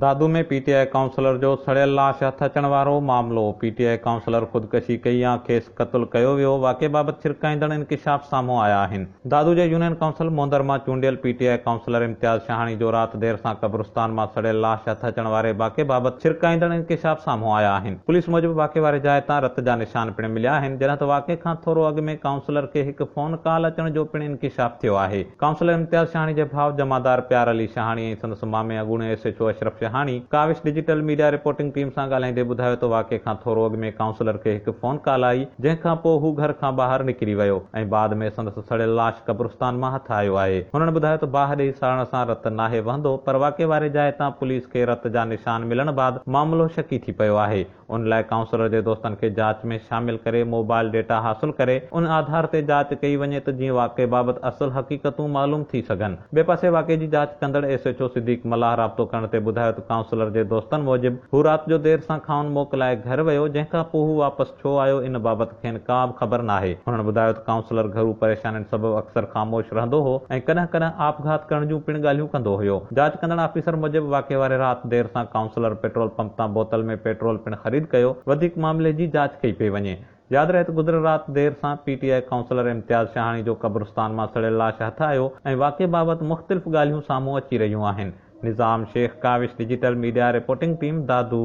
Dadu ۾ P T I councillor جو سڙيل لاش هٿ اچڻ وارو معاملو، پي ٽي آء ڪائونسلر خودڪشي ڪئي يا کيس قتل ڪيو ويو، واقعي بابت ڇرڪائيندڙ انڪشاف سامهون آيا آهن. دادو جي يونين ڪائونسل موندر مان چونڊيل P T I councillor Imtiaz Shahani جو رات دير سان قبرستان مان سڙيل لاش هٿ اچڻ واري واقعي بابت ڇرڪائيندڙ انڪشاف سامهون آيا آهن. پوليس موجب واقعي واري جاء تان رت جا نشان پڻ مليا آهن، جڏهن ته واقعي کان ٿورو اڳ ۾ ڪائونسلر کي هڪ فون ڪال اچڻ جو پڻ انڪشاف ٿيو آهي. ڪائونسلر امتياز شهاڻي جي ڀاء جمعدار پيار علي شهاڻي ۽ سندس مامي اڳوڻي S H O Ashraf Shahani Kawish digital media reporting team سان ڳالهائيندي ٻڌايو ته واقعي کان ٿورو اڳ ۾ ڪائونسلر کي هڪ فون ڪال آئي جنهن کان پوء هو گهر کان ٻاهر نڪري ويو ۽ بعد ۾ سندس سڙيل لاش قبرستان مان هٿ آيو آهي هنن ٻڌايو ته باهه ڏئي ساڙڻ سان رت ناهي وهندو پر واقعي واري جاء تان پوليس کي رت جا نشان ملڻ بعد معاملو شڪي ٿي پيو آهي ان لاء ڪائونسلر جي دوستن کي جاچ ۾ شامل ڪري موبائل ڊيٽا حاصل ڪري ان آڌار تي جاچ ڪئي وڃي ته جيئن واقعي بابت اصل حقيقتون معلوم ٿي سگهن. ٻئي پاسي واقعي جي جاچ ڪندڙ S H O Siddique Mallah رابطو ڪرڻ تي ٻڌايو ته ڪائونسلر جي دوستن موجب هو رات جو دير سان کائون موڪ لاء گهر ويو جنهن کان پوء هو واپس ڇو آيو ان بابت کين ڪا به خبر ناهي. هنن ٻڌايو ته ڪائونسلر گهرو پريشانين سبب اڪثر خاموش رهندو هو ۽ ڪڏهن ڪڏهن آپگهات ڪرڻ جون پڻ ڳالهيون ڪندو هيو. جاچ ڪندڙ آفيسر موجب واقعي واري رات دير سان ڪائونسلر پيٽرول پمپ تان بوتل ۾ پيٽرول پڻ خريد ڪيو، وڌيڪ معاملي جي جاچ ڪئي پئي وڃي. ياد رهي ته گذريل رات دير سان P T I councillor Imtiaz Shahani جو قبرستان مان سڙيل لاش هٿ آيو ۽ واقعي بابت مختلف ڳالهيون سامهون اچي رهيون آهن. Nizam Shaikh Kawish digital media reporting team Dadu.